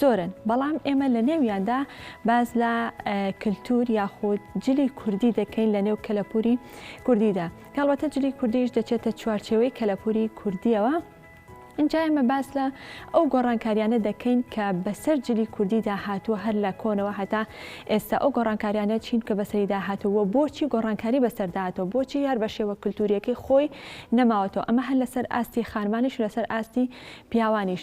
زۆرن بەڵام ئێمە لە نێویاندا باس لە کلتور یاخود جلی کوردی دەکەین لە نێو کەلەپوری کوردیدا کاڵبەتە جلی کوردیش دەچێتە چوارچێوەی کەلەپوری کوردیەوە اینجا ئێمە باس لە ئەو گۆڕانکاریانە دەکەین کە بەسەر جلی کوردیدا هاتووە هەر لە کۆنەوە هەتا ئێستا ئەو گۆڕانکاریانە چین کە بەسەریدا هاتووە بۆچی گۆڕانکاری بەسەرداهاتەوە بۆچی یار بە شێوە کللتوریەکەی خۆی نەماوەتەوە ئەمە هەر لەسەر ئاستی خانمانیش لەسەر ئاستی پیاوانیش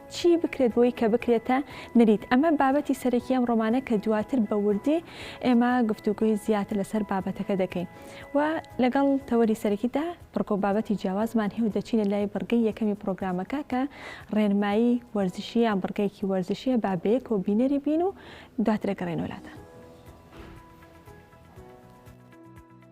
چی بکرێت بۆی کە بکرێتە نریت؟ ئەمە بابەتی سەرەکی ئەم ڕۆمانە کە دواتر بە وردی ئێمە گفتوگۆی زیاتر لەسەر بابەتەکە دەکەین و لەگەڵ تەوەری سەرەکیدا بڕگە و بابەتی جیاوازمان هەیە و دەچینە لای بڕگەی یەکەمی پرۆگرامەکە کە ڕێنمایی وەرزشی یان بڕگەیەکی وەرزشیە با بەیەکەوە بینەری بین و دواتر دەگەڕێنەوە لاتان.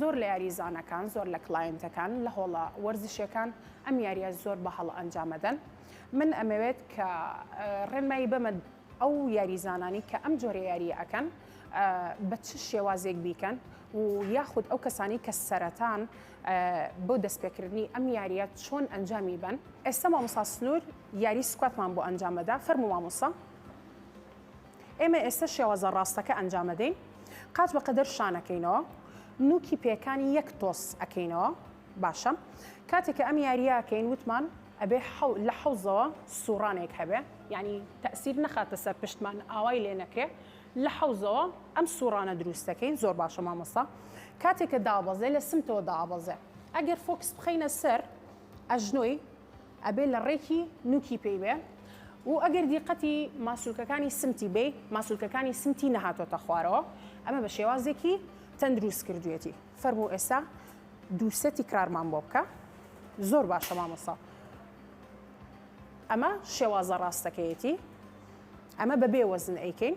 زۆر لە یاریزانەکان، زۆر لە کلایەنتەکان لە هۆڵە وەرزشیەکان ئەم یاریە زۆر بە هەڵە ئەنجام ئەدەن. من ئەمەوێت کە ڕێنمایی بەمە ئەو یاریزانانی کە ئەم جۆرە یاریە ئەکەن بە چ شێوازێک بیکەن و یاخود ئەو کەسانی کە سەرەتان بۆ دەستپێکردنی ئەم یاریە چۆن ئەنجامی بەن ئێستا مامۆستا سنور یاری سکواتمان بۆ ئەنجام ئەدا فەرموو مامۆستا. ئێمە ئێستە شێوازە ڕاستەکە ئەنجام ئەدەین، قاچ بە قەدەر شان ئەکەینەوە، نووکی پێیەکانی یەک تۆز ئەکەینەوە، باشە کاتێک کە ئەم یارییە ئەکەین وتمان ئەبێ لە حەوزەوە سووڕانێک هەبێ، یانی تەئسیر نەخاتە سەر پشتمان ئاوای لێ نەکرێ، لە حەوزەوە ئەم سووڕانە دروست ئەکەین، زۆر باشە مامۆستا کاتێک کە دابەزێ لە سمتەوە دابەزێ ئەگەر فۆکس بخەینە سەر ئەژنۆی، ئەبێ لە ڕێکی نوکی پێی بێ و ئەگەر دیقەتی ماسولکەکانی سمتی بێی ماسولکەکانی سمتی نەهاتۆتە خوارەوە ئەمە بە شێوازێکی تەندروست کردوێتی فەرموو ئێستا دووسێ تیکرارمان بۆ بکە زۆر باشە مامۆسا ئەمە شێوازە ڕاستەکەیەتی ئەمە بە بێ وەزن ئەیکەین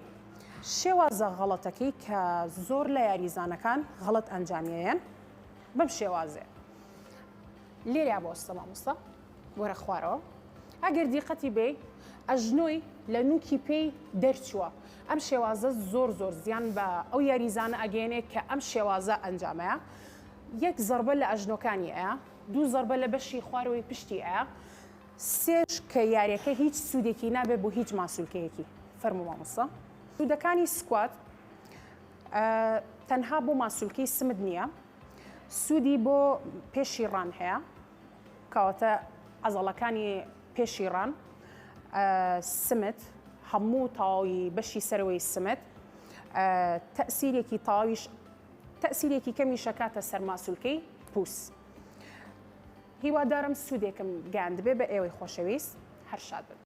شێوازە غەڵەتەکەی کە زۆر لە یاریزانەکان غەڵت ئەنجامیان بەم شێوازێ لێریا بۆستە مامۆستا وەرە خوارەوە ئەگەر دیقەتی بێ ئەژنۆی لە نوکی پێی دەرچووە ئەم شێوازە زۆر زۆر زیان بە ئەو یاریزانە ئەگەێنێ کە ئەم شێوازە ئەنجامەیە یەک زربە لە ئەژنۆکانی ئەیە دوو زربە لە بەشی خوارەوەی پشتی ئەیە سێش کە یاریەکە هیچ سوودێکی نابێ بۆ هیچ ماسولکەیەکی فەرمو مامۆستا سوودەکانی سکوات تەنها بۆ ماسولکەی سمت نییە سوودی بۆ پێشی ڕان هەیە کەواتە عەزەڵەکانی پێشی ڕان سمت هەموو تاوی بەشی سەرەوەی سمت تەسیرێکی تاویش تەسیرێکی کەمی شەکاتە سەرماسولکەی پووس هیوادارم سوودێکم گاندبێ بە ئێوەی خۆشەویست هەر شاد بن.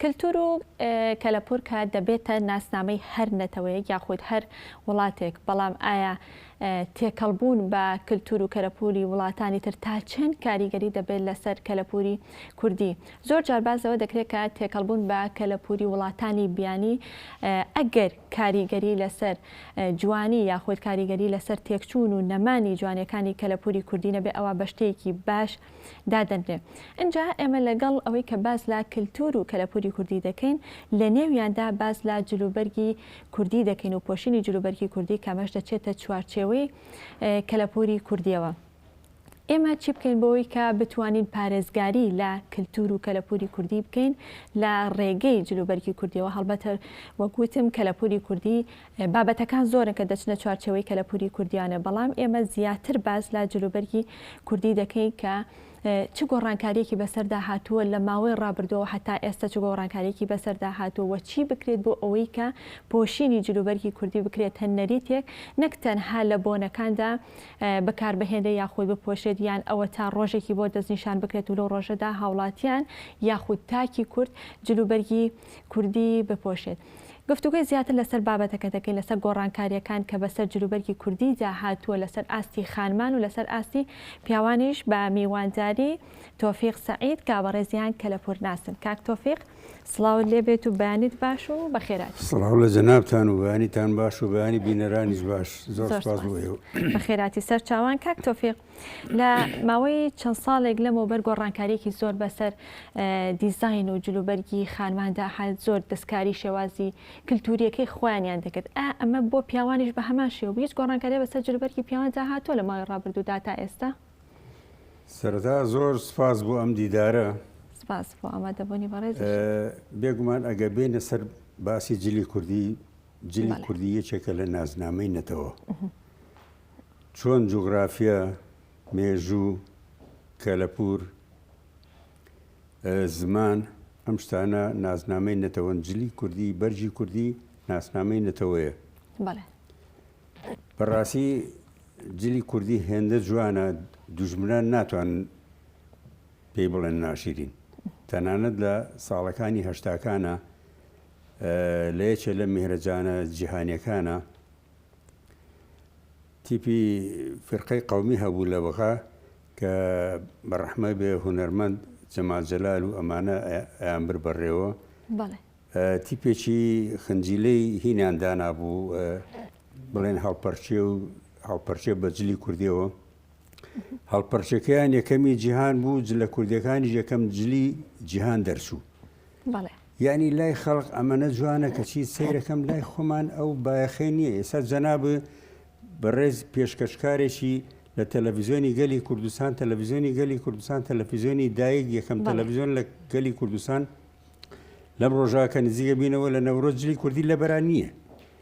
کلتور و کەلەپورکە دەبێتە ناسنامەی هەر نەتەوەیەک یاخود هەر وڵاتێک، بەڵام ئایا تێکەڵبوون بە کلتور و کەلەپوری وڵاتانی تر تا چەند کاریگەری دەبێت لەسەر کەلەپوری کوردی؟ زۆر جار باس لەوە دەکرێت کە تێکەڵبوون بە کەلەپوری وڵاتانی بیانی ئەگەر کاریگەری لەسەر جوانی یاخود کاریگەری لەسەر تێکچوون و نەمانی جوانیەکانی کەلەپوری کوردی نەبێت ئەوا بە شتێکی باش دادەنرێ ئنجا ئێمە لەگەڵ ئەوەی کە باس لە کلتور و کەلەپوری کوردی دەکەین لە نێویاندا باس لە جلوبەرگی کوردی دەکەین و پۆشینی جلوبەرگی کوردی کامەش دەچێتە چوارچێوەی کەلەپوری کوردیەوە ئێمە چی بکەین بۆی کە بتوانین پارێزگاری لە کللتور و کەلەپوری کوردی بکەین لە ڕێگەی جلوبەرگی کوردیەوە هەڵبەتە وەکوتم کەلەپوری کوردی بابەتەکان زۆرن کە دەچنە چوارچێوەی کەلەپووری کوردییانە، بەڵام ئێمە زیاتر باس لە جلوبەرگی کوردی دەکەین کە چ گۆڕانکارییەکی بەسەردا هاتووە لە ماوەی ڕابردووەوە هەتا ئێستا چ گۆڕانکارییەکی بەسەردا هاتووە و چی بکرێت بۆ ئەوەی کە پۆشینی جلوبەرگی کوردی بکرێتە نەریتێک نەک تەنها لە بۆنەکاندا بەکاربهێنرێت یاخود بپۆشێت یان ئەوەتا ڕۆژێکی بۆ دەستنیشان بکرێت و لەو ڕۆژەدا هاوڵاتیان یاخود تاکی کورد جلوبەرگی کوردی بپۆشێت. گفتوگۆی زیاتر لەسەر بابەتەکە دەکەین لەسەر گۆڕانکارییەکان کە بەسەر جلوبەرگی کوردیدا هاتووە لەسەر ئاستی خانمان و لەسەر ئاستی پیاوانیش بە میوانداری تۆفیق سەعید کە بەڕێزیان کەلەپورناسن کاک تۆفیق سڵاوت لێبێت و بەیانیت باش و بەخێرات. سڵاو لە جەنابتان و بەیانیتان باش و بەیانی بینەرانیش باش زۆر سوپاس بۆ ئێوە. بەخێراتی سەرچاوان کاک تۆفیق لە ماوەی چەند ساڵێک لەمەوبەر گۆڕانکاریێکی زۆر بەسەر دیزین و جلوبەرگی خانماندا حال زۆر دەستکاری شێوازی کللتوریەکەی خۆیانیان دەکرد ئەمە بۆ پیاوانیش بە هەمان شێو هیچ گۆڕانکاری بەسەر جلوبەرگی پیاوان داهاتۆ لە ماوەی ڕابردوودا تا ئێستا سەردا زۆر سپاس بۆ ئەم دیدارە سپاس بۆ ئامادەبوونی بەڕێز بێگومان ئەگە بێنە سەر باسی جلی کوردی جلی کوردی یەکێکە لە نازنامەی نەتەوە. چۆن جوغرافیا، مێژوو، کەلەپوور، زمان ئەم شتانە ناسنامەی نەتەوەن، جلی کوردی، بەرگی کوردی ناسنامەی نەتەوەیە. بەڵێ. بەڕاستی جلی کوردی هێندە جوانە دوژمنان ناتوان پێی بڵێن ناشیرین. تەنانەت لە ساڵەکانی هەشتاکانە لە یەکێ لە میهرەجانە جیهانیەکانە تیپی فرقەی قەومی هەبوو لە بغا کە بە ڕەحمە بێ هونەرمەند جەمال جەلال و ئەمانە ئەیان بر بەڕێوە تیپێکی خنجیلەی هینیان دانابوو بڵێن هەڵپەرچێ و هەڵپەرچێ بە جلی کوردیەوە هەڵپەرچەکەیان یەکەمی جیهان بوو جلە کوردەکانی یەکەم جلی جیهان دەرچوو یعنی لای خەڵق ئەمەە جوانە کەچی سیرەکەم لای خۆمان ئەو بایەخی نییە ئێستا جەناب بەڕێز پێشکەشکارێکی لە تەلەڤزیۆنی گەلی کوردستان تەلەڤزیۆنی گەلی کوردستان تەلەفیزیۆنی دایک یەکەم تەلەڤزیۆن لە گەلی کوردستان لەم ڕۆژاکە نزیگە بینەوە لە نەورۆجلی کوردی لەبەران نییە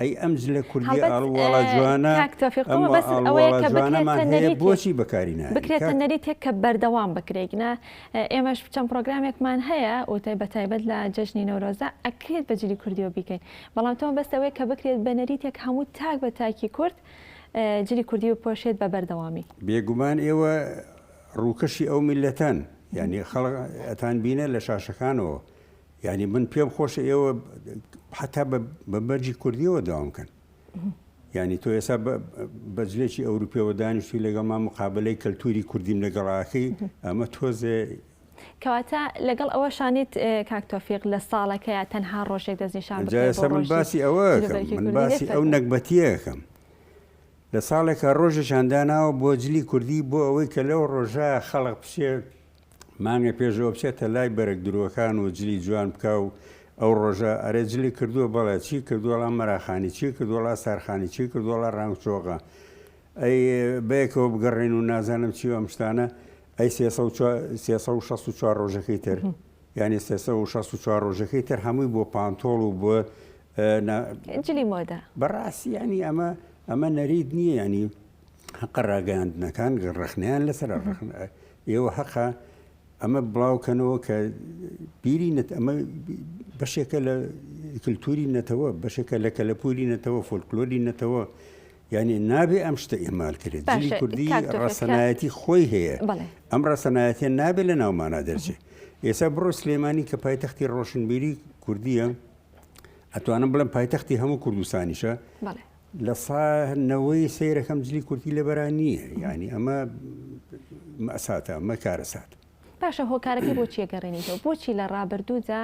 ئەی ئەم جلە کوردیە ئاڵ واڵا جوانە ئەم ئاڵ واڵا جوانەمان هەیە بۆچی بەکاری ناهێنین کاک؟ بکرێتە نەریتێک کە بەردەوام بکرێ گنە ئێمەش چەند پڕۆگرامێکمان هەیە وتەی بە تایبەت لە جەژنی نەورۆزدا ئەکرێت بە جلی کوردیەوە بیکەین بەڵام تۆ بەس ئەوەیە کە بکرێت بە نەریتێک هەموو تاک بە تاکی کورد جلی کوردی بپۆشێت بە بەردەوامی بێگومان ئێوە ڕووکەشی ئەو میللەتەن یعنی خەڵک ئەتان بینە لە شاشەکانەوە یانی من پێم خۆشە ئێوە حتا بە مەرجی کوردیەوە داوام کەن یعنی تۆ ئێستا بەجلێکی ئەوروپیەوە دانیشتی لەگەڵما مقابلەی کەلتوری کوردیم لەگەڵاکەی ئەمە تۆزێ کەواتە لەگەڵ ئەوە شانیت کاکتۆفیق لە ساڵەکەیە تەنها ڕۆژێک دەستنیشان من باسی ئەوە باسی ئەو نەکبەتیەکەم لە ساڵێکە ڕۆژێکشانداناوە بۆ جلی کوردی بۆ ئەوەی کە لەو ڕۆژە خەڵق پشێ مانگێ پێش ئەوە بچێتە لای بەرگ درۆکان و جلی جوان بکا و ئەو ڕۆژە ئەرێ جلی کردووە بەڵێ چی کردووەڵام مەراخانی چی کردووەڵا سارخانی چی کردووەڵا ڕانگ چۆغە ئەی بەیەکەوە بگەڕێن و نازانم چی ئەم شتانە ئەی 364 ڕۆژەکەی تر یعنی 364 ڕۆژەکەی تر هەمووی بۆ پانتۆڵ و بۆ جلی مۆدە بەڕاستی ینی ئەمە ئەمە نەریت نییە ینی هەقە ڕاگەیاندنەکان ڕخنیان لەسەر ڕخن ئێوە هەقە ئەمە بڵاوکەنەوە کە بیری نەت ئەمە بەشێکە لە کللتوری نەتەوە بەشێکە لە کەلەپوری نەتەوە فۆلکلۆری نەتەوە یعنی نابێ ئەم شتە ئێمال کرێت جلی کوردی ڕسەنایەتی خۆی هەیە ئەم ڕسەنایەتە نابێت لە ناومانە دەرچێت ئێستا بڕۆ سلێمانی کە پایتەختی ڕۆشنبیری کوردیە ئەتوانم بڵم پایتەختی هەموو کوردستانیشە لە سا نەوەی سەیرەکەم جلی کورتی لە بەرا نییە یعنی ئەمە مەساتە ئەمە کارەسات باشە هۆکارەکە بۆچی گەڕێنیتەوە بۆچی لە ڕابردوودا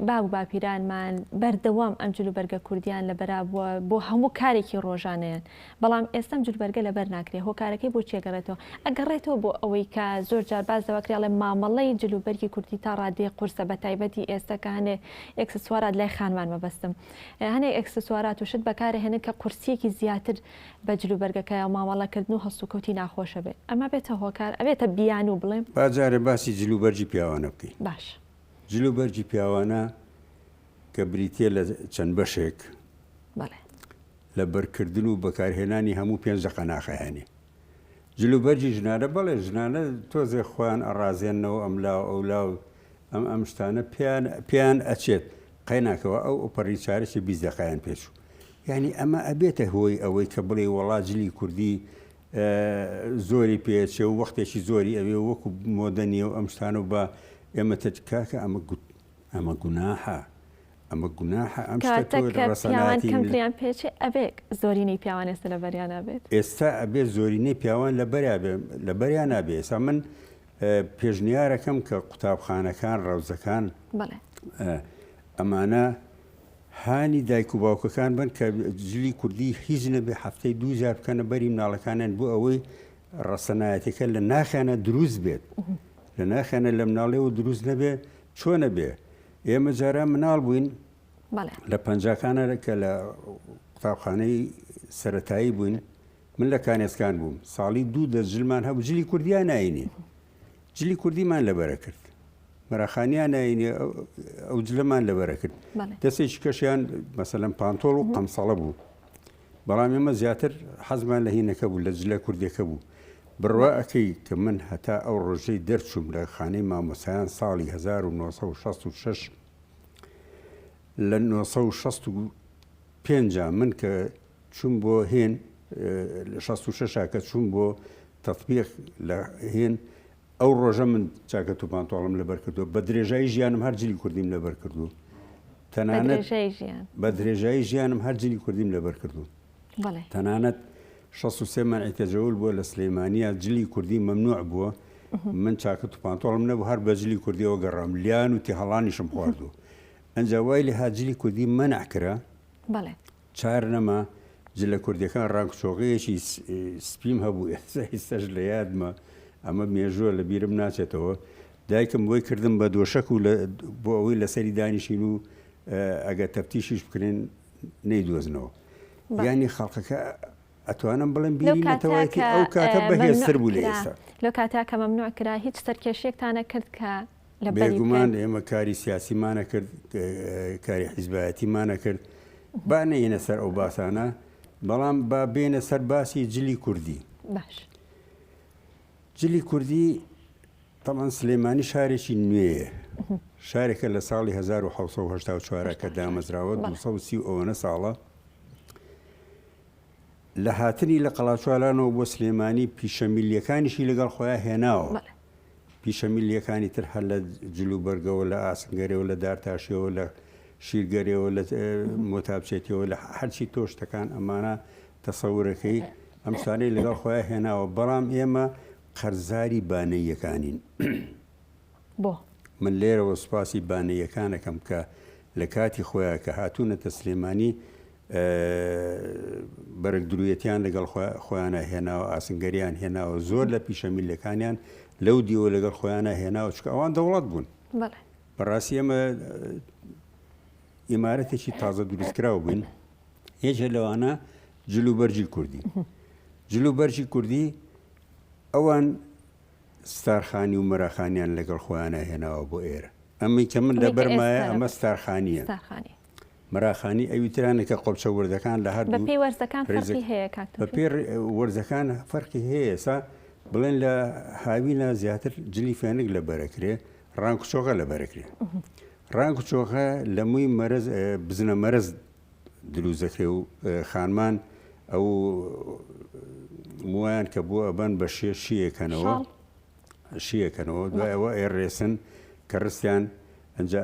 باب و باپیرانمان بەردەوام ئەم جلو بەرگە کوردیان لە بەرابووە بۆ هەموو کارێکی ڕۆژانەیان بەڵام ئێستەم جلبەرگە لەبەر ناکرێت هۆکارەکەی بۆ چێگەڕێتەوە ئەگەڕێتەوە بۆ ئەوەی کە زۆر جار باز دەواکرێڵێ مامەڵەی جلوبەرگی کوردی تا ڕادێ قورسە بە تایبەتی ئێستا کە هەنێ ئەکسسوارات لای خانمان مەبەستم هەنێک ئێکسسوارات و شت بەکارەهێنن کە قورسییەکی زیاتر بە جل و بەرگەکەیە و مامەڵەکردن و هەڵسوکەوتی ناخۆشە بێ ئەمە بێتە هۆکار ئەبێتە بیانوو بڵێم. با جارێ باسی جل و بەرگی پیاوانە بکەین. باشە. جل و بەرگی پیاوانە کە بریتییە لە چەند بەشێک. بەڵێ. لە بەرکردن و بەکارهێنانی هەموو پێنج دەقە ناخەهێنێ. جل و بەرگی ژنانە بەڵێ ژنانە تۆزێ خۆیان ئەڕازێننەوە ئەملا و ئەولا و ئەم ئەم شتانە پێیان پێیان ئەچێت قەیناکەوە ئەو ئەپەڕی چارەکی بیست دەقایان پێچوو یعنی ئەمە ئەبێتە هۆی ئەوەی کە بڵێ وەڵا جلی کوردی زۆری پێچێ و وەختێکی زۆری ئەوێ وەکو مۆدە نیە و ئەم شتان و بە ئێمە تکاکە ئەمە گوت ئەمە گوناحە ئەمە گوناحە ئەم کەمتریان پێچێ ئەبێک زۆرینەی پیاوان ئێستا لە بەریانە بێت ئێستا ئەبێت زۆرینەی پیاوان لە بەریا بێ لە بەریانە بێ ئێستا من پێشنیارەکەم کە قوتابخانەکان ڕەوزەکان ئەمانە هانی دایک و باوکەکان بن کە جلی کوردی هیچ نەبێ هەفتەی دووجار بکەنە بەری مناڵەکانیان بۆ ئەوەی ڕەسەنایەتەکە لە ناخیانە دروست بێت لە ناخیانە لە مناڵێەوە دروست نەبێ چۆنە بێ ئێمە جاران مناڵ بووین لە پەنجکانە کە لە قوتابخانەی سەتایی بووین من لە کانێسکان بووم ساڵی دوو دە جلمان هەبوو جلی کوردیا ناینی جلی کوردیمان لەبەرە کرد مەراخانیان ناینی ئەو جلەمان لەبەرە کرد دەستێکی کەشیان مەسەلەم پانتۆڵ و قەمسەڵە بوو بەڵام ئێمە زیاتر حەزمان لە هینەکە بوو لە جلە کوردەکە بوو بڕوا ئەەکەی کە من هەتا ئەو ڕۆژەی دەرچوم لە خانەی مامۆسایان ساڵی 1966 لە 1960 پێنج من کە چووم بۆ هێن لە شەست و شەشا کە چووم بۆ تەتبیق لە هێن ئەو ڕۆژە من جاکەت و پانتۆڵم لەبەر کردو بە درێژایی ژیانم هەر جلی کوردیم لەبەر کردو تەنانەت بە درێژایی ژیانم هەر جلی کوردیم لەبەر کردو تەنانەت 16 مەعیکە جەول بووە لە سلەیمانیا جلی کوردی مەمنوع بووە من چاکەت و پانتۆڵم نەبوو هەر بەجلی کوردیەوە گەڕام لیان و تێهڵانیشم خواردو ئەنجا وای لە هاجلی کوردی مەنع کرا چار نەما جلە کوردیەکان ڕەنگ چۆغەیەکی سپیم هەبوو ئێستاش لە یادمە ئەمە مێژووە لە بیرم ناچێتەوە دایکم بۆی کردم بە دۆشەک و بۆ ئەوەی لەسەری دانیشین و ئەگە تەفتیشیش بکرێن نەیدۆزنەوە ینی خەڵقەکە ئەتوانم بڵێم بیرینەتەوەی ئەو کاتە بەهێزتر بوو لە ئێستا لەو کاتە کە مەمنوع کرا هیچ سەرکێشیەکتانە کرد کە بێگومان ئێمە کاری سیاسیمانە کرد کاری حیزبایەتیمانە کرد با نەینە سەر ئەو باسانە بەڵام با بێنە سەر باسی جلی کوردی باش جلی کوردی تەڵەن سلێمانی شارێکی نوێیە شارێکە لە ساڵی 1970 کە دامەزراوە 1930 ئەوەنە ساڵە لە هاتنی لە قەڵاچوالانەوە بۆ سلێمانی پیشەمیلیەکانیشی لەگەڵ خۆیان هێناوە پیشە میللیەکانی تر هەر لە جل و بەرگەوە لە ئاسنگەرەوە لە دارتاشیەوە لە شیرگەرەوە لە مۆتابچێتەوە لە هەرچی تۆشتەکان ئەمانە تەسەورەکەی ئەم شتانەی لەگەڵ خۆیان هێناوە بەڵام ئێمە قەرزاری بانەیەکانین بۆ من لێرەوە سوپاسی بانەیەکانەکەم کە لە کاتی خۆیان کە هاتوونەتە سلێمانی بەرگ درویەتیان لەگەڵ خۆیانە هێناوە ئاسنگەریان هێناوە زۆر لە پیشە میلەکانیان لەو دیوە لەگەڵ خۆیانە هێناوە چکە ئەوان دەوڵەت بوون بەڕاستی ئەمە ئیمارەتێکی تازە دروستکراو بووین یەکێ لەوانە جلو بەرجی کوردی جلو بەرجی کوردی ئەوان ستارخانی و مەراخانیان لەگەڵ خۆیانە هێناوە بۆ ئێرە ئەمەی کە من لە بەرمایە ئەمە ستارخانیە مەراخانی ئەوی ترانە کە قۆپچە وردەکان لە هەردوو. بەپێی وەرزەکان فەرقی هەیە کاک توفیق؟ بەپێی وەرزەکان فەرقی هەیە ئێستا بڵێن لە هاوینا زیاتر جلی فێنک لە بەرەکرێ ڕانک و چۆغە لە بەرەکرێ ڕانک و چۆغە لە مووی مەرز بزنە مەرز دروست دەکرێ و خانمان ئەو مویان کە بۆ ئەبەن بە شێ شیەکەنەوە. شی ئەکەن و دوای ئەوە ئەیڕێسن کە ڕستیان ئەنجا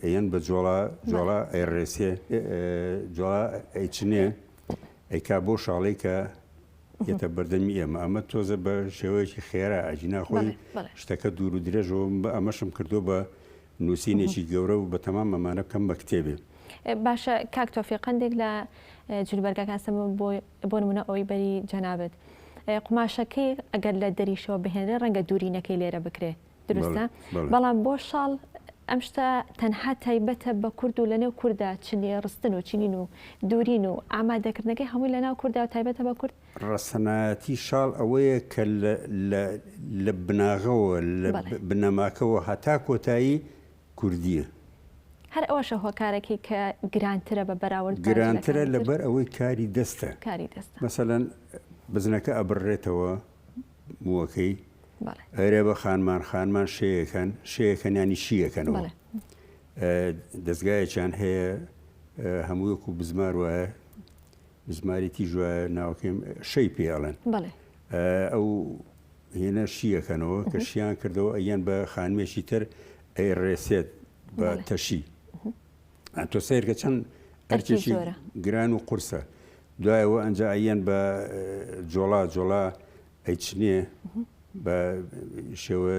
ئەیەن بە جۆڵا جۆڵا ئەیڕێسێ جۆڵا ئەیچنێ ئەیکا بۆ شاڵەی کە یەتە بەردەمی ئێمە ئەمە تۆزە بە شێوەیەکی خێرا ئەجینا خۆی شتەکە دوور و درێژەوە بە ئەمەشم کردو بە نووسینێکی گەورە و بەتەمام ئەمانە بکەم بە کتێبێ. باشە کاک تۆفیق قندێک لە جلوبەرگەکان سەمە بۆ بۆ نمونە ئەوەی بەری جەنابت قوماشەکەی ئەگەر لە دەریشەوە بهێنرێ ڕەنگە دوورینەکەی لێرە بکرێ دروستە بەڵام بۆ شاڵ ئەم شتە تەنها تایبەتە بە کورد و لەنێو کووردا چنی ڕستن و چنین و دوورین و ئامادەکردنەکەی هەمووی لەناو کووردا و تایبەتە بە کورد ڕەسەنایەتی شاڵ ئەوەیە کە لە بناغەوە، لە بنەماکەوە هەتا کۆتایی کوردییە. هەر ئەوەشە هۆکارەکەی کە گرانترە بە بەراورد بە جلەکانی تر. گرانترە لەبەر ئەوەی کاری دەستە. کاری دەستە. مەسەلەن بزنەکە ئەبڕرێتەوە مووەکەی. بەڵێ. ئەرێ بە خانمان، خانمان شێ ئەکەن، شێ ئەکەن یانی شی ئەکەنەوە. بەڵێ. دەزگایەکیان هەیە هەموو وەکوو بزمار وایە بزماری تیژ وایە ناوەکەیم شەی پێ ئەڵێن ئەو هێنە شیەکەنەوە کە شیان کردەوە ئەیان بە خانمێکی تر ئەی ڕێسێت بە تەشی تۆ سیرکە چەند ئەرکێکی گران و قورسە دوایەوە ئەنج ئەیان بە جۆڵا جۆڵا ئەیچنێ بە شێوە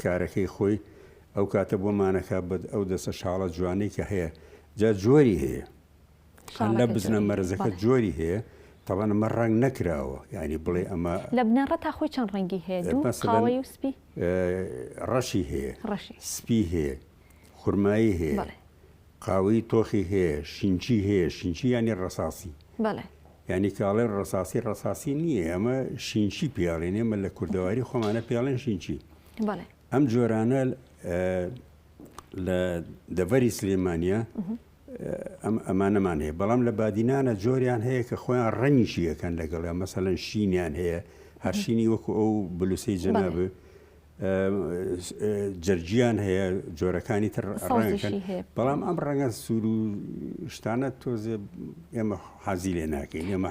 کارەکەی خۆی ئەو کاتە بۆ مانەکە بە ئەو دەسە شاڵە جوانەی کە هەیە جا جۆری هەیە هەندە بزنە مەرزەکە جۆری هەیە تەبەن ئەمە ڕەنگ نەکراوە ینی بڵێ ئەمە لە بنەڕە تا خۆی چەند ڕەنگی هەیە قاوەی و سپی ڕەشی هەیە ڕەشی سپی هەیە خورمایی هەیە قاوەی تۆخی هەیە شینچی هەیە شینچی ینی ڕساسی بەڵێ ینی کاڵێ ڕساسی ڕساسی نییە ئەمە شینچی پیاڵێن ئێمە لە کوردەواری خۆمانە پیاڵێن شینچی ئەم جۆرانە لە دەڤەری سلێمانە ئەمانەمان هەیە بەڵام لە بادینانە جۆریان هەیە کە خۆیان ڕەنگیشی یەکەن لەگەڵە مەسەەن شینیان هەیە هەرشینی وەکو ئەو بلوسی جەناب جەرجیان هەیە جۆرەکانی تر ڕەنگەکەن بەڵام ئەم ڕەنگە سوور و شتانە تۆزێ ئێمە حەزی لێ ناکەین ئێمە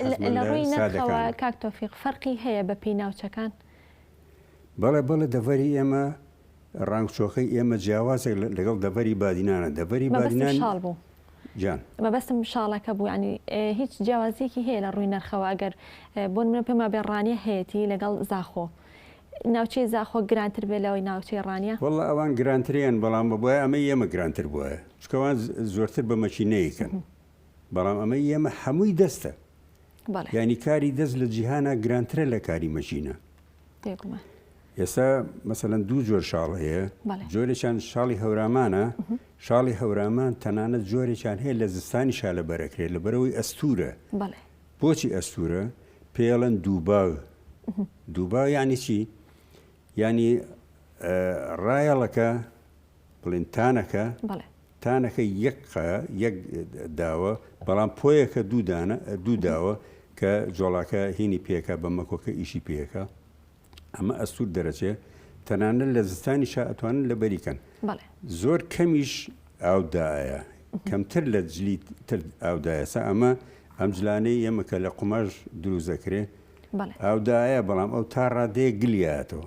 کاکتۆفیق فەرقی هەیە بە پێی ناوچەکان بەڵێ بەڵێ دەڤەری ئێمە ڕانگچۆخەی ئێمە جیاوازە لەگەڵ دەڤەری بادینانە، دەڤەری بادینان شاڵ بوو جان مەبەستم شاڵەکە بوو ینی هیچ جیاوازیەکی هەیە لە ڕووی نرخەوە ئەگەر بۆن منە پێما بێ ڕانیە هەیەی لەگەڵ زاخۆ ناوچەی زاخۆ گرانتر بێ لەوەی ناوچەی ڕانیە وڵە ئەوان گرانتریان بەڵام بە بۆە ئەمە ئێمە گرانتر بووە چکەوان زۆرتر بە مەچی نەیکەن بەڵام ئەمە ئێمە هەمووی دەستە یانی کاری دەست لە جیهانە گرانترە لە کاری مەژینە ئێستا مەسەەن دوو جۆر شاڵ هەیە جۆرێکیان شاڵی هەورامانە شاڵی هەورامان تەنانە جۆرێکیان هەیە لە زستانی شالە بەرەکرێت لە بەرەوەی ئەستورە بۆچی ئەستورە پێڵەن دووباو دووباو یعنی چی ینی ڕایەڵەکە بڵێنتانەکە تانەکە یەک قا یەک داوە، بەڵام پۆیەکە دوو دانە دوو داوە کە جۆڵاکە هینی پێکا بە مەکۆکە ئیشی پێکا ئەمە ئەستور دەرەچێ تەنانە لە زستانی شا ئەتوانن لە بەری کەن زۆر کەمیش ئاودایە کەمتر لە جلی تر ئاودایەسە ئەمە ئەم جلانەی ئێمە کە لە قوماش دروزەکرێ ئاودایە بەڵام ئەو تا ڕادەیە گلیاتەوە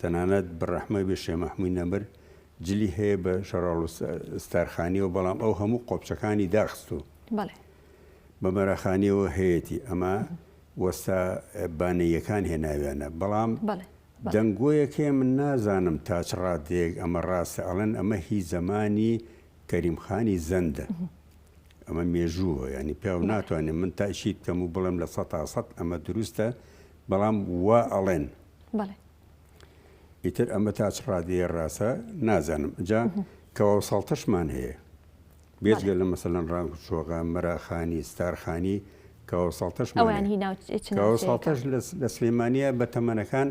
تەنانەت بڕەحمەی بێ شێ مەحموی نەمر جلی هەیە بە شەڕاڵ و ستارخانیەوە بەڵام ئەو هەموو قۆپچەکانی داخستو بە مەراخانیەوە هەیەی ئەمە وەستا بانەیەکان هێناویانە بەڵام دەنگۆیەکێ من نازانم تاچ ڕادێک ئەمە ڕاستە ئەڵەن ئەمە هی زەمانی کەریمخانی زەندە ئەمە مێژووە ینی پێ ناتوانێت من تاشید کەم و بڵم لە سە تا سەد ئەمە دروستە بەڵام وا ئەڵێن بەڵێ ئیتر ئەمە تا چ ڕادەیە ڕاستە نازانم جا کەواو ساڵتەشمان هەیە بێجگە لە مەسەلەن ڕانگ چۆغە مەراخانی ستارخانی کەواو ساڵتەش ئەویان هی ناو چ- چ کەواو ناوچەیەکە؟ ساڵتەش لە س- لە سلێمانیە بە تەمەنەکان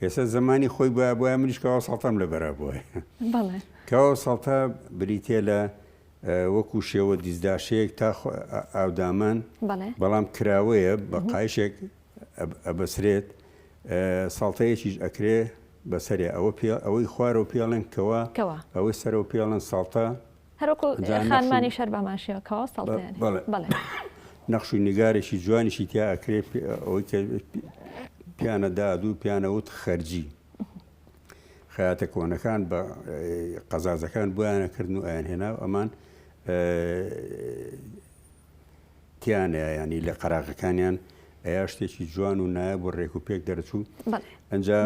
ئێستا زمانی خۆی بە بۆە منیش کەواو ساڵتەم لە بەرە بۆیە بەڵێ کەواو ساڵتە بریتە لە اه، وەکو شێوە دیزداشەیەک تا خۆ- ئا- ئاودامان بەڵێ بەڵام کراوەیە بە قایشێک ئەبەسرێت ساڵتەیەکیش ئەکرێ بەسەرێ ئەوە پێ ئەوەی خوارەوە پێڵێن کەوە کەوە ئەوەی سەرەوە پێڵێن ساڵتە هەروەکو جا نەخش و- خانمانی شەر بەمان شێوە کەوا سەڵتەیان بەڵێ. بەڵێ نەخش و نیگارێکی جوانیشی تیا ئەکرێ پێ- ئەوەی کە پێ- پیانە دادوو پیانە وت خەرجی خەیاتە کۆنەکان بە قەزازەکان بۆیانە کردن و ئەیان هێنا و ئەمان تیان ئەیا یانی لە قەراغەکانیان ئەیا شتێکی جوان و نایب و ڕێک و پێک دەرچوو ئەجا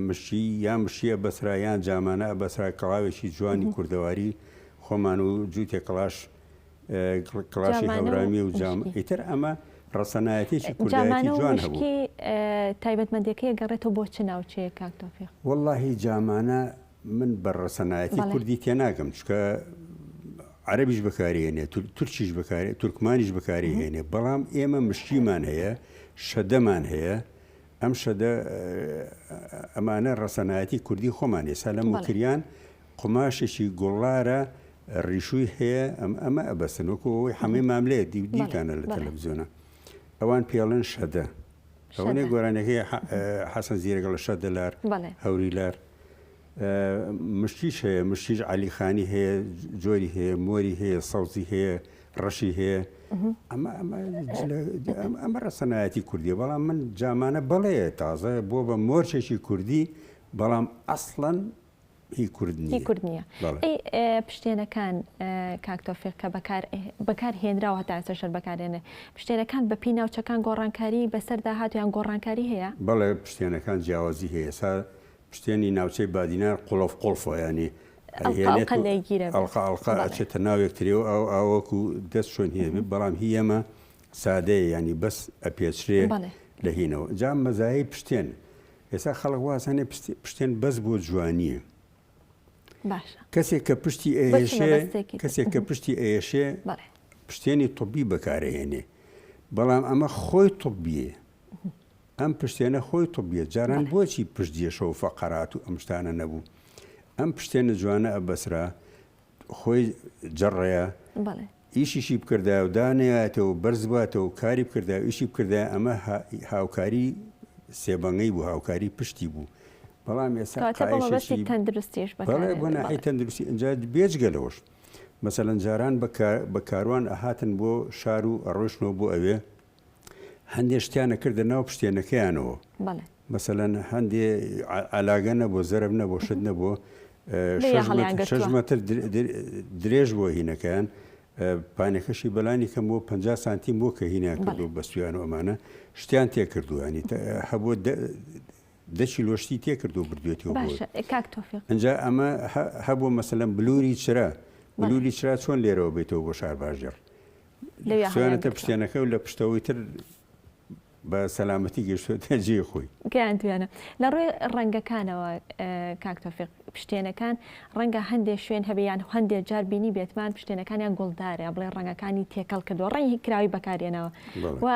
مشی یان مشیە بەسرا یان جامانە بەسرا کەڵاوێکی جوانی کوردەواری خۆمان و جووتێ کڵاش کڵاشی هەورامی و جام ئیتر ئەمە ڕسەنایەتێکی کوردایەتی جوان هەبوو تایبەتمەندەکەی گەڕێتەوە بۆ چ ناوچەیە کاکتۆفیق واللهی جامانە من بە ڕەسەنایەتی کوردی تێناگەم چکە عەرەبیش بەکارێنێ تورکیش بەکارێ تورکمانیش بەکاری هێنێ بەڵام ئێمە مشکیمان هەیە شەدەمان هەیە ئەم شەدە ئەمانە ڕەسەنایەتی کوردی خۆمان ێسا لە مکریان قماشێکی گوڵارە ڕیشووی هەیە ئەم ئەمە ئەبەسن وەکو ئەوەی حەمەی ماملێ دیوتانە لە تەلەڤزیۆنە ئەوان پێڵێن شەدە ئەوەنێ گۆرانەکەی حەسەن زیرەگە لە شەد دەلار هەوری لار مشتیش هەیە مشتیش علیخانی هەیە جۆری هەیە مۆری هەیە سەوزی هەیە ڕەشی هەیە ئەمە ئەمە ڕەسەنایەتی کوردی بەڵام من جامانە بەڵێ تازە بۆ بە مۆرچێکی کوردی بەڵام ئەسڵەن هی کورد نییە. هی کورد نییە. بەڵێ. ئەی پشتێنەکان کاک تۆفیق کە بەکار بەکار هێنراوە هەتا ئێستا شەر بەکارێنێ پشتێنەکان بە پێی ناوچەکان گۆڕانکاری بەسەردا هات یان گۆڕانکاری هەیە؟ بەڵێ پشتێنەکان جیاوازی هەیە ئێستا پشتێنی ناوچەی بادینان قڵف قڵفە یانی ئەڵقە هێنێت ئەڵقە و لێگیرە بێت. ئەڵقە ئەڵقە بەڵێ. ئەچێتە ناو یەکتری و ئاو ئاوەکو دەست شوێن هی ئەبێت بەڵام هی ئێمە سادەیە یانی بەس ئەپێچرێ بەڵێ. لە هینەوە. جا مەزایای پشتێن ئێستا خەڵک وازانێ پشتێن بەس بۆ جوانییە. باشە. کەسێک کە پشتی ئەیەشێ کەسێک کە پشتی ئەیەشێ پشتێنی طبی بەکارهێنێ بەڵام ئەمە خۆی طبیە ئەم پشتێنە خۆی طبیە جاران بۆچی پشت دێشە و فەقەرات و ئەم شتانە نەبوو ئەم پشتێنە جوانە ئەبەسرا خۆی جڕەیە ئیشیشی بکردایە و دانەیایەتەوە و بەرز بوایەتەوە و کاری بکردایە و ئیشی بکردایە ئەمە هاوکاری سێبەنگەی بوو هاوکاری پشتی بوو بەڵام ئێستا کەواتە بۆ مەبەستی قایشەشی تەندروستیش بەکار بەڵێ بۆ هێنرێت، ناحیەی بەڵێ. تەندروستی ئینجا بێجگە لەوەش مەسەلەن جاران بە کار بە کاروان ئەهاتن بۆ شار و ئەڕۆیشتنەوە بۆ ئەوێ هەندێ شتیان ئەکردە ناو پشتێنەکەیانەوە بەڵێ مەسەلەن هەندێ ع- عەلاگە نەبوو زەرب نەبوو شت نەبوو ئە، لێیە شەش هەڵیان مەتر- گرتووە. شەش مەتر در- در- درێژ بووە هینەکەیان ئە، پانێکەشی بەلانی کەم بۆ 50 سانتیم بووە کە هینیان بەڵێ. کردو بەستویان و ئەمانە شتیان تێکردووە ینی تە- هەبوو دە دە کیلۆ شتی تێکردو بردوێتیەوە بۆ باشە ئێ، کاک تۆفیق ئنجا ئەمە هە- هەبوو مەسەلەن بلوری چرا بەڵێ. بلوری چرا چۆن لێرەوە بێتەوە بۆ شار باژێڕ لەوێ هەڵیان خستویانەتە گرتووە. پشتێنەکە و لە پشتەوەی تر بە سەلامەتی گەیشتووەتە جێی خۆی. گەیاندوویانە. لە ڕووی ڕەنگەکانەوە کاک تۆفیق، پشتێنەکان ڕەنگە هەندێ شوێن هەبێ یان هەندێ جار بینیبێتمان پشتێنەکانیان گوڵدارە، یا بڵێ ڕەنگەکانی تێکەڵ کردووە، ڕەنگێکی کراوەی بەکارهێناوە بەڵێ. و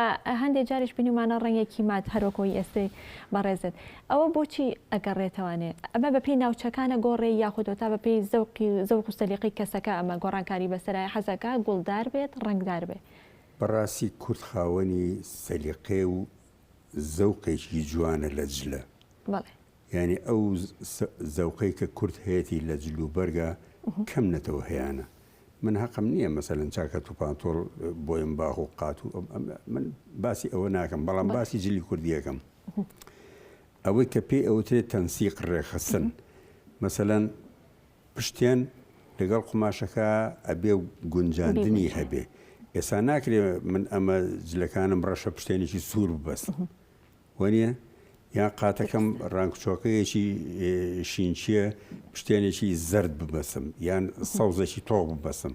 هەندێ جاریش بینیومانە ڕەنگێکی مات هەر وەکوو ئەوی ئێستەی بەڕێزت. ئەوە بۆچی ئەگەڕێتەوانێ؟ ئەمە بەپێی ناوچەکانە گۆڕێی یاخود هۆتا بەپێی زەوقی و زەوق و سەلیقەی کەسەکە ئەمە گۆڕانکاری بەسەرایە حەزەکا گوڵدار بێت ڕەنگدار بێ. بەڕاستی کورد خاوەنی سەلیقەیە و زەوقێکی جوانە لە جلە. بەڵێ. یانی ئەو زەوقەی کە کورد هەیەتی لە جل و بەرگا کەم نەتەوە هەیانە. من هەقم نییە مەسەلەن چاکەت و پانتۆڵ بۆیم باخ و قات و من باسی ئەوە ناکەم بەڵام باسی جلی کوردی ئەکەم. ئەوەی کە پێی ئەوترێت تەنسیق ڕێکخستن مەسەلەن پشتێن لەگەڵ قوماشەکە ئەبێ گونجاندنی هەبێ ئێستا ناکرێ من ئەمە جلەکانم ڕەشە پشتێنێکی سوور ببەست وەنیە یان قاتەکەم ڕانکچۆکەیەکی شینچیە پشتێنێکی زرد ببەسم یان سەوزێکی تۆق ببەسم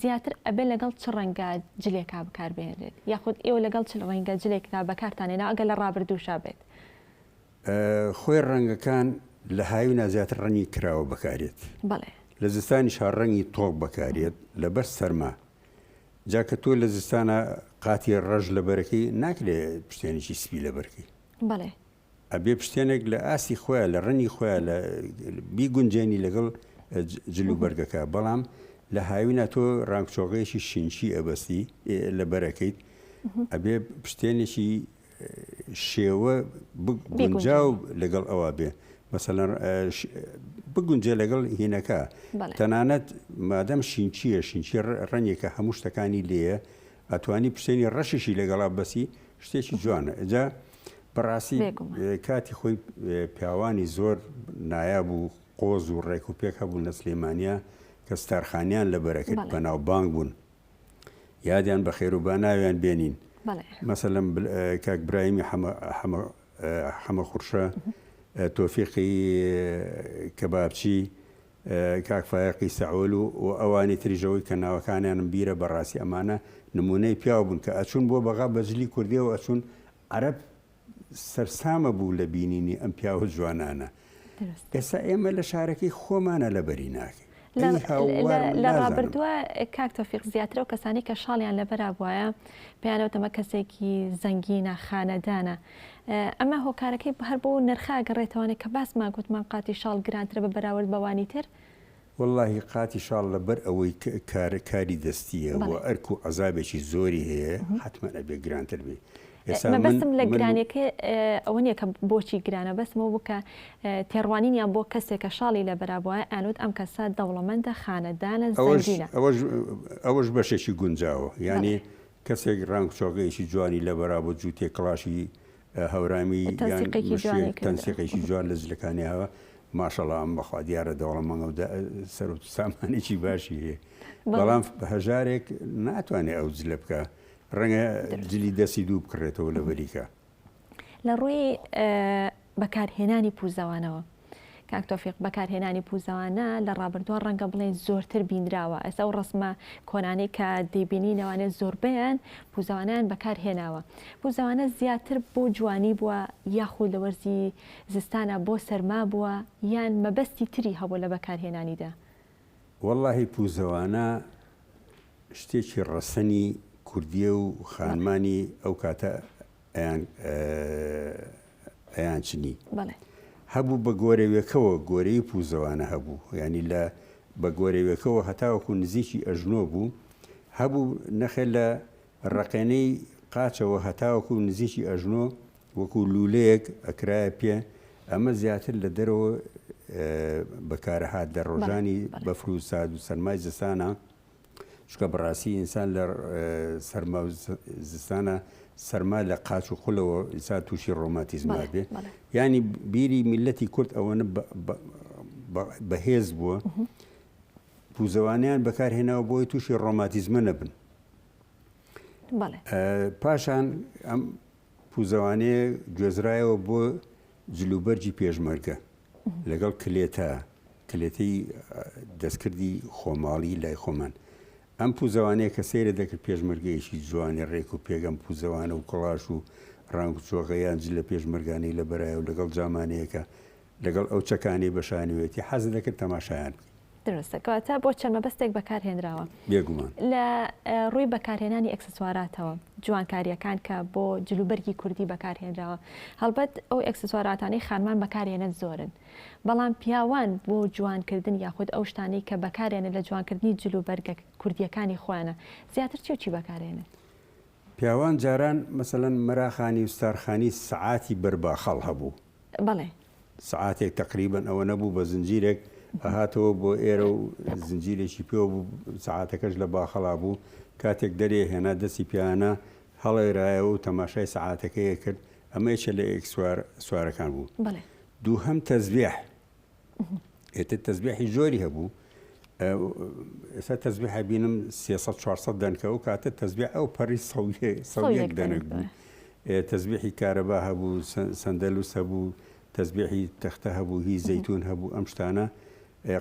زیاتر ئەبێت لەگەڵ چ ڕەنگە جلێکا بکار بهێنرێت یاخود ئێوە لەگەڵ چ ڕەنگە جلێکدا بەکارتان هێناوە ئەگەر لە ڕابردووشا بێت؟ خۆێ ڕەنگەکان لە هاوینا زیاتر ڕەنگی کراوە بەکارێت بەڵێ. لە زستانیشا ڕەنگی تۆک بەکارێت لەبەر سەرما جا کە تۆ لە زستانا قاتی ڕەش لەبەرەکەی ناکرێ پشتێنێکی سپی لەبەرکەی. بەڵێ. ئەبێ پشتێنێک لە ئاستی خۆیان لە ڕەنی خۆیان لە بیگونجێنی لەگەڵ جل و بەرگەکە بەڵام لە هاوینا تۆ ڕانگچۆغەیەکی شینچی ئەبەستی لە بەرەکەیت ئەبێ پشتێنێکی شێوە بگونجا و لەگەڵ ئەوە بێ مەسەلەن بگونجێ لەگەڵ هینەکە تەنانەت مادەم شینچیە شینچی ڕەنیەکە هەموو شتەکانی لێە ئەتوانی پشتێنی ڕەشیشی لەگەڵا بەسی شتێکی جوانە ئەجا بەڕاستی کاتی خۆی پیاوانی زۆر نایاب و قۆز و ڕێک و پێک هەبوو لە سلێمانیا کە ستارخانیان لە بەرەکرد بەناو بانگ بوون یادیان بە خێروبا ناویان بێنین مەسەلم کاک برایمی حەمە خورشە تۆفیقی کەبابچی کاک فایەقی سەعول و و ئەوانی تریش ئەوەی کە ناوەکانیانم بیرە بەڕاستی ئەمانە نموونەی پیاو بوون کە ئەچوون بۆ بەغا بە جلی کوردیەوە ئەچوون عەرەب سەرسامە بوو لە بینینی ئەم پیاوە جوانانە دروستە ئێستا ئێمە لە شارەکەی خۆمانە لەبەری ناکەین لە ئەی هاوار لە لە نازانم ڕابردووە کاک تۆفیق زیاتر ئەو کەسانەی کە شاڵیان لەبەرا بوایە پێیان ئەوتەمە کەسێکی زەنگینە خانەدانە ئەمە هۆکارەکەی هەر بەو نرخە ئەگەڕێتەوانێ کە باسمان گوتمان قاتی شاڵ گرانترە بە بەراورد بەوانی تر. وەڵاهی قاتی شاڵ لەبەر ئەوەی کار کاری دەستیە و ئەرک و عەزابێکی زۆری هەیە حەتمەن ئەبێ گرانتر بێ. ئێستا من مەبەستم لە گرانیەکەی ئەوە نیە کە بۆچی گرانە بەسم ئەوە بوو کە تێڕوانینیان بۆ کەسێک کە شاڵی لەبەر بووە ئەیانوت ئەم کەسە دەوڵەمەندە خانەدانە زەنگینە. ئەوەش ئەوەش بەشێکی گونجاوە یانی کەسێک ڕەنگ چۆکەیەکی جوانی لە بەرا بۆ جووتێک کڵاشی هەورامی یان مشێک تەنسیقێکی جوان لە جلەکانی هەوە ماشەڵا ئەم بەخوا دیارە دەوڵەمەنگە و سەرۆ سامانێکی باشی هەیە بەڵام هەژارێک ناتوانێت ئەو جلە بکە ڕەنگە جلی دەستی دوو بکڕێتەوە لە بەریکە لە ڕووی بەکارهێنانی پوزەوانەوە کاک تۆفیق بەکارهێنانی پوزەوانە لە ڕابردووە ڕەنگە بڵێن زۆرتر بینراوە ئەسا و ڕسمە کۆنانی کە دەیبینینەوانێ زۆربیان پوزەوانیان بەکارهێناوە پوزەوانە زیاتر بۆ جوانی بووە یاخود لە وەرزی زستانە بۆ سەرما بووە یان مەبەستی تری هەبوو لە بەکارهێنانیدا واللهی پوزەوانە شتێکی ڕەسەنی کوردیە و خانمانی ئەو کاتە ئەیان ئەیان چنی هەبوو بە گۆرەوێکەوە گۆرەی پوزەوانە هەبوو ینی لە بە گۆرەوێکەوە هەتاوەکو نزیکی ئەژنۆ بوو هەبوو نەخێ لە ڕقێنەی قاچەوە هەتاوەکو نزیکی ئەژنۆ وەکو لولەیەک ئەکرایە پێ ئەمە زیاتر لە دەرەوە بەکارەهات لە ڕۆژانی بەفر و ساد و سەرمای زستانە چونکە بەڕاستی ئینسان لە سەرما و زستانە سەرما لە قاچ و قولەوە ئینسان تووشی ڕۆماتیزم نابێ ینی بیری میلەتی کورد ئەوەنە بەهێز بووە پوزەوانیان بەکارهێناوە بۆی تووشی ڕۆماتیزمە نەبن پاشان ئەم پوزەوانەیەک گوێزرایەوە بۆ جلوبەرگی پێشمەرگە لەگەڵ کلێتە کلێتەی دەستکردی خۆماڵی لای خۆمان ئەم پوزەوانەیە کە سەیرە دەکرد پێشمەرگەیەکی جوانی ڕێک و پێگەم پوزەوانە و کڵاش و ڕنگ جۆغەیان جل لە پێشمەرگانەی لە بەرایە و لەگەڵ جامانەیەەکە لەگەڵ ئەو چەکانەی بە شانۆیەتی حەزت دەکرد تەماشایان بکەی. دروستە، کەواتە بۆ چەند مەبەستێک بەکارهێنراوە. بێگومان. لە ڕووی بەکارهێنانی ئەکسسواراتەوە، جوانکارییەکان کە بۆ جلوبەرگی کوردی بەکارهێنراوە، هەڵبەت ئەو ئەکسسواراتانەی خانمان بەکارهێنن زۆرن، بەڵام پیاوان بۆ جوانکردن یاخود ئەو شتانەی کە بەکارێنن لە جوانکردنی جلوبەرگە کوردییەکانی خۆیانە، زیاتر چی و چی بەکارهێنن؟ پیاوان جاران مەسەلەن مەراخانی و ستارخانی سەعاتی بەرباخەڵ هەبوو. بەڵێ. سەعاتێک تەقریبەن ئەوەنە بوو بە زنجیرێک ئەهاتەوە بۆ ئێرە و زنجیرێکی پێوە بوو سەعاتەکەش لە باخەڵا بوو کاتێک دەرێ هێنا دەستی پیانا هەڵێرایەوە و تەماشای سەعاتەکەی ئەکرد ئەمە یەکێ لە ئێکسوار سوارەکان بوو بەڵێ. دووهەم تەزبێح ئێتر تەزبێحی زۆری هەبوو ئێستا تەزبێحە بینم 300 دەنکە و کاتە تەزبێ ئەو پەری سەڵێک دەنک بوو تەزبێحی کارەبا هەبوو سندەلوس هەبوو تەزبێحی تەختە هەبوو هی زەیتون هەبوو ئەم شتانە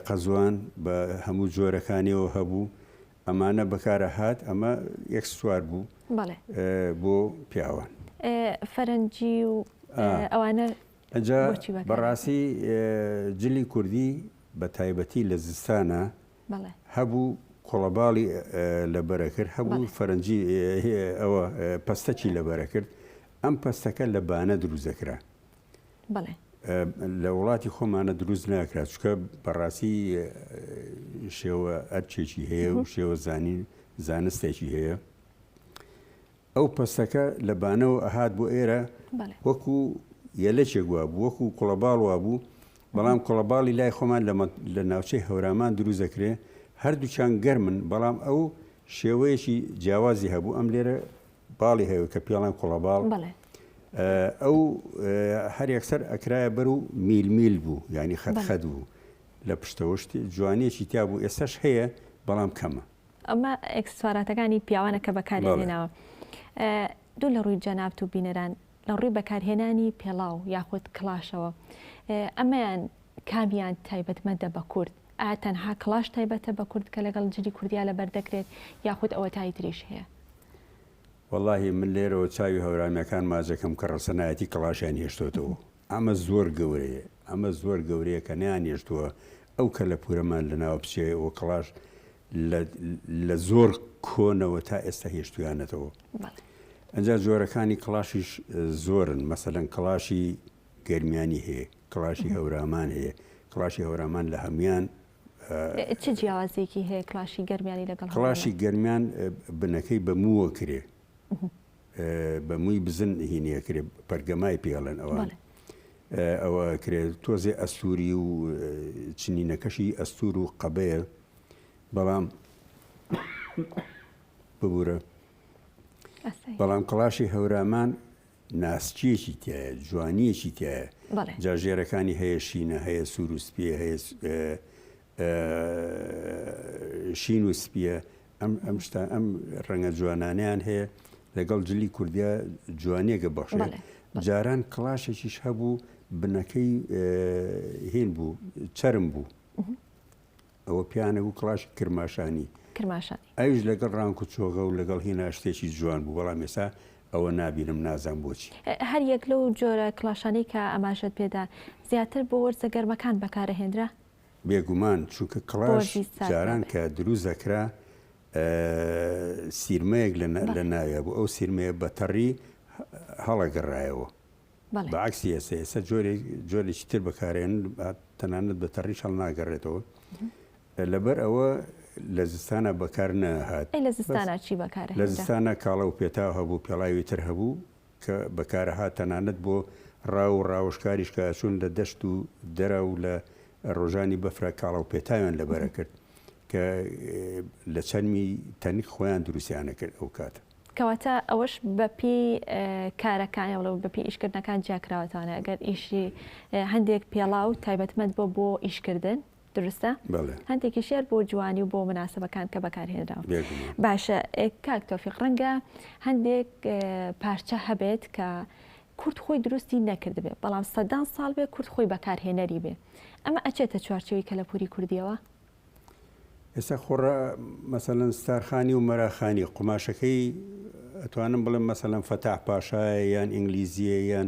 قەزوان بە هەموو جۆرەکانیەوە هەبوو ئەمانە بەکارە هات ئەمە یەک سوار بوو بۆ پیاوان فەرەنجی و ئەوانە ئەجا بەڕاستی جلی کوردی بە تایبەتی لە زستانا هەبوو کۆڵەباڵی لە بەرە کرد هەبوو فەرەنجی ئەوە پەستەکی لە بەرە کرد ئەم پەستەکە لە بانە دروست دەکرا لە وڵاتی خۆمانە دروست ناکرا چکە بەڕاستی شێوە ئەرچێکی هەیە و شێوە زانین زانستێکی هەیە ئەو پەستەکە لە بانەوە ئەهات بۆ ئێرە وەکو یەلەکێک وابوو، وەکو کوڵەباڵ وابوو، بەڵام کوڵەباڵی لای خۆمان لە ناوچەی هەورامان دروست دەکرێ، هەردووکیان گەرمن، بەڵام ئەو شێوەیەکی جیاوازی هەبوو، ئەم لێرە باڵی هەیە کە پێڵێن کوڵەباڵ، ئەو هەر یەکسەر ئەکرایە بەر و میل میل بوو، یانی خەت خەت بوو لە پشتەوە، جوانیەکی تیا بوو، ئێستاش هەیە بەڵام کەمە. ئەمە ئێکسسواراتەکانی پیاوانە کە بەکاریان هێناوە. دوو لە ڕووی جەنابت و بینەران، لە ڕووی بەکارهێنانی پێڵاو یاخود کڵاشەوە، ئەمەیان کامیان تایبەتمەندە بە کورد؟ ئایا تەنها کڵاش تایبەتە بە کورد کە لەگەڵ جلی کوردیا لەبەر دەکرێت یاخود ئەوەتای تریش هەیە؟ وەڵاهی من لێرەوە چاوی هەورامییەکان ماچ دەکەم کە ڕەسەنایەتی کڵاشیان هێشتۆتەوە. ئەمە زۆر گەورەیە ئەمە زۆر گەورەیە کە نەیانهێشتووە ئەو کەلەپورەمان لەناو بچێ و کڵاش لە لە زۆر کۆنەوە تا ئێستا هێشتویانەتەوە ئەجا جۆرەکانی کڵاشیش زۆرن مەسەلەن کڵاشی گەرمیانی هەیە کڵاشی هەورامان هەیە کڵاشی هەورامان لە هەموان چ جیاوازیەکی هەیە کلاشی گەرمیانی لەگەڵ کلاشی گەرمیان بنەکەی بە مووە کرێ بە موی بزن هینیە کرێ پەرگەمای پێڵێن ئەوان ئەوە کرێ تۆزێ ئەستوری و چنینەکەشی ئەستور و قەبەیە بەڵام ببورە بەڵام کڵاشی هەورامان ناسچیەکی تایە جوانیەکی تایە جاژێرەکانی هەیە شینە هەیە سوروسپی هەیە شین و سپیە ئەم ئەم شتا ئەم ڕەنگە جوانانیان هەیە لەگەڵ جلی کوردیا جوانیەکە بەخشێت جاران کڵاشێکیش هەبوو بنەکەی هێن بوو چرم بوو ئەوە پیانە بوو کڵاش کرماشانی کرماشانی ئەوش لەگەڵ ڕانکو چۆغە و لەگەڵ هێنا شتێکی جوان بوو بەڵام ێسا ئەوە نابینم نازان بۆچی هەر یەک لەو جۆرە کلاشانەی کە ئەماژەت پێدا زیاتر بۆ وەرزە گەرمەکان بەکارەهێنرا بێگومان چونکە کڵاش جاران کە دروست دەکرا سیرمەیەک لە ناوێ بوو ئەو سیرمەیە بەتەڕی هەڵەگەڕایەوە بەعکسی ئێستا ئێستا جۆرێکی تر بەکارێن تەنانەت بە تەڕیش هەڵ ناگەڕێتەوە لەبەر ئەوە لە زستانە بەکار نەهات لە زستانە چی بەکار لە زستانە کاڵە و پێتا هەبوو پێڵاوی تر هەبوو کە بەکارەهات تەنانەت بۆ ڕاو و ڕاوەشکاریش کە ئەچوون لە دەشت و دەرە و لە ڕۆژانی بەفرا کاڵە و پێتاویان لە بەر ئەکرد کە لە چەرمی تەنک خۆیان دروستیان ئەکرد ئەو کاتە. کەواتە ئەوەش بە پێی کارەکان یان بە پێی ئیشکردنەکان جیا کراوەتەوانە ئەگەر ئیشی هەندێک پێڵاو تایبەتمەند بووە بۆ ئیشکردن، دروستە؟ بەڵێ. هەندێکیشیار بۆ جوانی و بۆ مناسبەکان کە بەکارهێنراون. بێگومان. باشە ئێ، کاک تۆفیق ڕەنگە هەندێک ئێ، پارچە هەبێت کە کورد خۆی دروستی نەکردبێ، بەڵام سەدان ساڵ بێ کورد خۆی بەکارهێنەری بێ، ئەمە ئەچێتە چوارچێوەی کەلەپووری کوردییەوە؟ ئێستا خۆ ڕە، مەسەلەن ستارخانی و مەراخانی، قوماشەکەی ئەتوانم بڵێم مەسەلەن فەتاح پاشایە یان ئینگلیزییە یان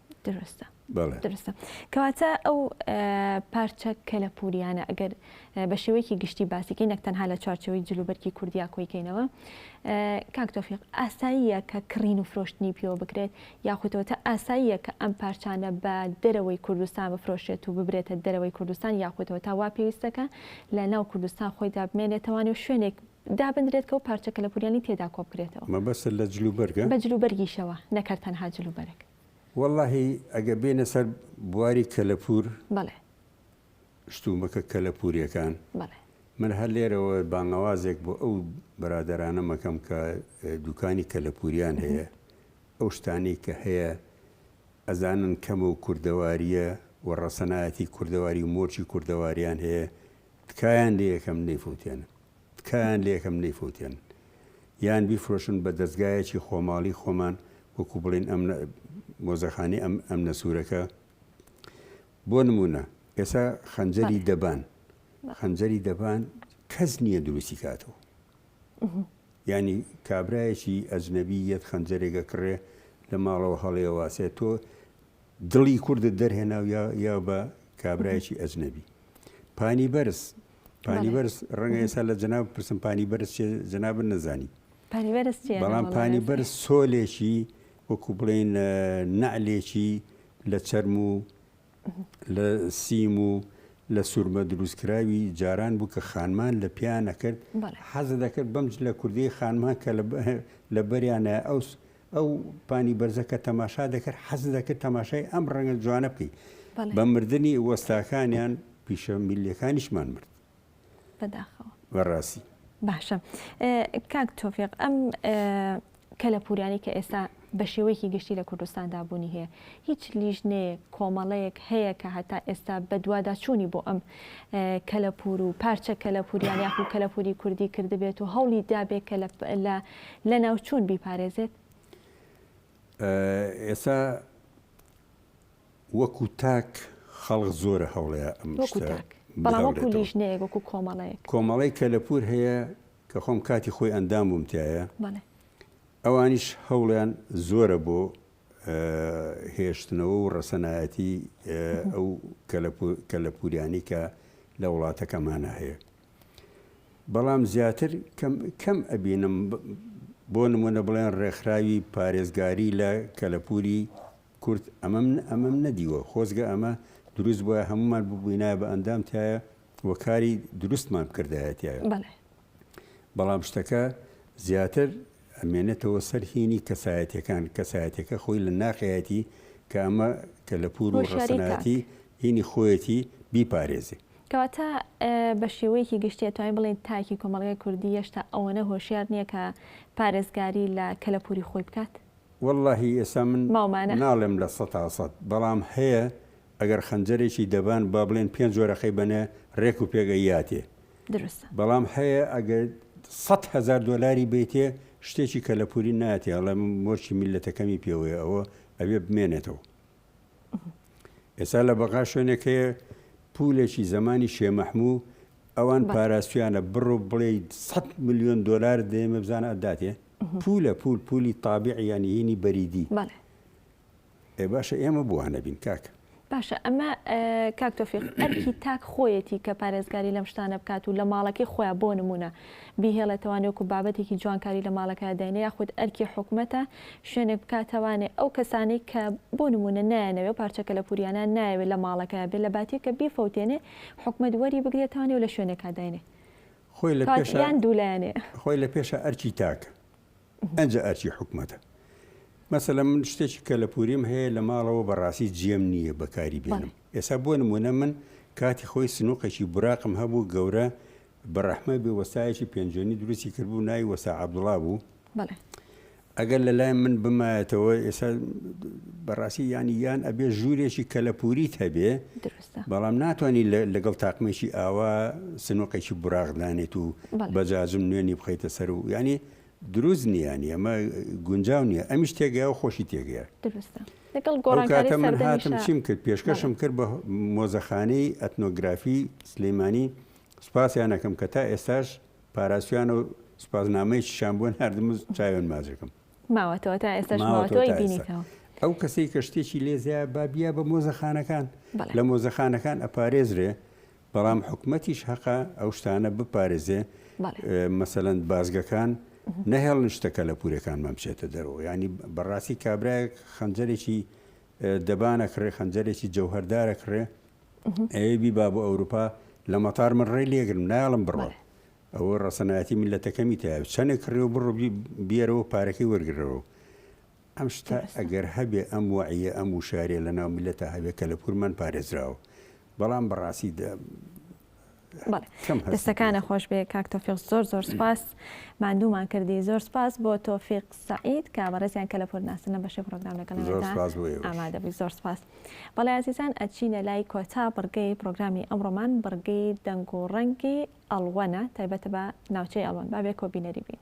دروستە دروستە کەواتە ئەو پارچە کەلەپوریانە ئەگەر بە شێوەیەکی گشتی باسیکەی نەک تەنها لە چوارچەوەی جلوبەرکی کوردیا کۆیکەینەوە کاک تۆفیق ئاساییە کە کڕین و فرۆشتنی پێوە بکرێت یاخودەوە تا ئاساییە کە ئەم پارچانە بە دەرەوەی کوردستان بفرۆشێت و ببرێتە دەرەوەی کوردستان یاخودەوە تا وا پێویستەکە لە ناو کوردستان خۆی دابمێنێتەوانی و شوێنێک دابندرێت کەو پارچە کەلەپوریانی تێدا کۆبکرێتەوە. مەبەستت لە جل و بەرگە؟ بە جل و بەرگیشەوە نەکەر تەنها جل و بەرگ. وەڵاهی ئەگە بێنە سەر بواری کەلەپور. بەڵێ. شتومەکە کەلەپوریەکان. بەڵێ. من هەر لێرەوە بانگەوازێک بۆ ئەو برادەرانەم ئەکەم کە دوکانی کەلەپوریان هەیە ئەو شتانەی کە هەیە ئەزانن کەمە و کوردەواریە و ڕەسەنایەتی کوردەواری و مۆرکی کوردەواریان هەیە تکایان لە یەکەم نەیفوتێنن تکایان لە یەکەم نەیفوتێنن یان بیفرۆشن بە دەزگایەکی خۆماڵی خۆمان وەکو بڵین ئەم مۆزەخانی ئەم ئەم نەسوورەکە بۆ نمونە ئێسا خەنجەری دەبان خەنجەری دەبان کەس نییە دروستی کاتەوە ینی کابراایەکی ئەجنەبی یەت خەنجەرێگە کڕێ لە ماڵەوە هەڵێواسێت تۆ دڵی کوردت دەرهێنا و یا بە کابرایەکی ئەجنەبی. پانی بەرز، پانی بەرز ڕەنگە ئێستا لە جەناب بپرسم پانی بەرز چیە جەنابت نەزانی. پانی بەرز چیە؟ بەڵام پانی بەرز سۆلێکی وەکوو بڵێین نەعلێکی لە چەرم و لە سیم و لە سوورمە دروستکراوی جاران بوو کە خانمان لە پێیان ئەکرد. حەز دەکرد بەم جلە کوردەی خانمان کە لە بەریانە ئەو ئەو پانی بەرزە کە تەماشا دەکرد حەز دەکرد تەماشای ئەم ڕەنگە جوانە بکەی بە مردنی وەستاکانیان پیشە میلەکانیشمان مرد بەداخەوە بەڕاستی باشە کاک تۆفێق ئەم کەلەپورانی کە ئێستا بە شێوەیەکی گشتی لە کوردستاندا بوونی هەیە هیچ لیژنەیەک کۆمەڵەیەک هەیە کە هەتا ئێستا بەدوادا چوونی بۆ ئەم کەلەپور و پارچە کەلەپوریان یاخو کەلەپوری کوردی کردبێت و هەوڵی دابێت کە لە لەناوچوون بیپارێزێت؟ ئێستا وەکو تاک خەڵک زۆرە هەوڵەیە ئەم شتە بەڵام وەکو لیژنەیەک وەکو کۆمەڵەیەک کۆمەڵی کەلەپور هەیە کە خۆم کاتی خۆی ئەندام بووم تایە ئەوانیش هەوڵیان زۆرە بۆ هێشتنەوە و ڕەسەنایەتی ئەو کەلەپوریانی کە لە وڵاتەکەمانە هەیە بەڵام زیاتر کەم ئەبینم بۆ نمونە بڵێن ڕێکخراوی پارێزگاری لە کەلەپوری کورد ئەمەم نەدیوە خۆزگە ئەمە دروست بوایە هەمومان ببوینایە بە ئەندام تایە و کاری دروستمان بکردایە تایە بەڵام شتەکە زیاتر ئەمێنێتەوە سەر هینی کەسایەتەکان کەسایەتەکە خۆی لە ناقەتی کە ئەمە کە لە پور و ڕسەنایەتی هینی خۆیەتی بیپارێزی کەواتە بە شێوەیەکی گشتی ئەتوانین بڵێین تاکی کۆمەڵگای کوردی یەشتا ئەوەنە هۆشیار نیە کە پارێزگاری لە کەلەپوری خۆی بکات؟ وەڵاهی ئێستا من ناڵێم لە سەتا سەد بەڵام هەیە ئەگەر خەنجەرێکی دەبان با بڵێن پێنج وەرەقەی بەنێ رێک و پێک ئەیاتێ دروستە بەڵام هەیە ئەگەر سەد هەزار دۆلاری بەیتێ شتێکی کەلەپوری نایاتێ ئەڵێ من مۆرکی میللەتەکەمی پێوەیە ئەوە ئەبێ بمێنێتەوە. ئێستا لە بەغا شوێنێک هەیە پولێکی زمانی شێ مەحموو ئەوان پاراستویانە بڕۆ بڵێ 100 میلیۆن دلار دێمە بزانە ئەداتێ پولە پول پولی تابعیانی هینی بەریدی ئێ باشە ئێمە بوانە بین کاک باشە ئەمە کاکتۆفیق ئەرکی تاک خۆیەتی کە پارێزگاری لەم شتانە بکات و لە ماڵەکەی خۆیان بۆ نمونە بیهێڵێتەوە نێوکو بابەتێکی جوانکاری لە ماڵەکەیا داینێ یاخود ئەرکی حکومەتە شوێنێک بکاتەوانێ ئەو کەسانەی کە بۆ نموونە نایانەوێ پارچە کەلەپوریانەیان نایەوێ لە ماڵەکەیا بێ لەباتی کە بیفەوتێنێ حکومەت وەری بگرێتەوانێ و لە شوێنێکا داینێ خۆی لە کەواتە پێشە یان دوو لایەنێ. خۆی لە پێشە ئەرکی تاکە ئەنجا ئەرکی حکومەتە مەسەلەن من شتێکی کەلەپوریم هەیە لە ماڵەوە بەڕاستی جێم نییە بەکاری بێنم بەڵێ. ئێستا بۆ نموونە من کاتی خۆی سنوقێکی براقم هەبوو گەورە بەڕەحمەت بێ وەستایەکی پێنجوێنی دروستی کردبوو ناوی وەستا عەبدوڵا بوو ئەگەر لەلای من بمایەتەوە ئێستا بەڕاستی یانی یان ئەبێ ژوورێکی کەلەپوریت هەبێ بەڵام ناتوانانی لەگەڵ تاقمێکی ئاوا سنوقێکی براغدانێت و بەجاجم نوێنی بخیتە سەر و ینی دروست نییانی ئەمە گونجاو نییە ئەمیش تێگەیا و خۆشی تێگەیا کاتە من هاتم چیم کرد پێشکەشم کرد بە مۆزەخانەی ئەتنۆگرافی سلەیمانی سوپاسیان ئەکەم کە تا ئێستاش پاراستویانە و سوپاسنامەیەکیشان بۆ ناردم و چاویان ماچ ئەکەم. ماوەتەوە تا ئێستاش ماوە تۆ ئەیبینیتەوە. ئەو کەسەی کە شتێکی لێ زایە با بیا بە مۆزەخانەکان، لە مۆزەخانەکان ئەپارێزرێ، بەڵام حکومەتیش هەقە ئەو شتانە بپارێزێ، مەسەلەن بازگەکان نەهێڵن شتە کەلەپوورەکانمان بچێتە دەرەوە، یانی بەڕاستی کابرایەک خەنجەرێکی دەبان ئەکڕێ، خەنجەرێکی جەوهەردار ئەکڕێ، ئەوێ بیبا بۆ ئەوروپا لە مەتار من ڕێ لێگرم نایڵم بڕۆ ئەوە ڕەسەنایەتی من لە تەکەمی تا چەنێک کڕێ و بڕ بێرەوە پارەکەی وەرگرەوە ئەم شتا ئەگەر هەبێ ئەم وعە ئەم وشارێ لە ناو میلەتە هەبێ کە لە پورمان پارێزراوە بەڵام بەڕاستی دەستەکانە خۆش بێ کاک تۆفیق زۆر زۆر سپاس ماندوومان کردی زۆر سپاس بۆ تۆفیق سعید کە بەڕێزیان کە لە پۆرناسنە بەشی پرۆگرام لەگەڵ ئامادەبووی زۆر سپاس بەڵێ عزیزان ئەچینە لای کۆتا بڕگەی پرۆگرامی ئەمڕۆمان بڕگەی دەنگ و ڕەنگی ئەڵوەنە تایبەتە بە ناوچەی ئەڵوەن بابێ کۆبینەری بین.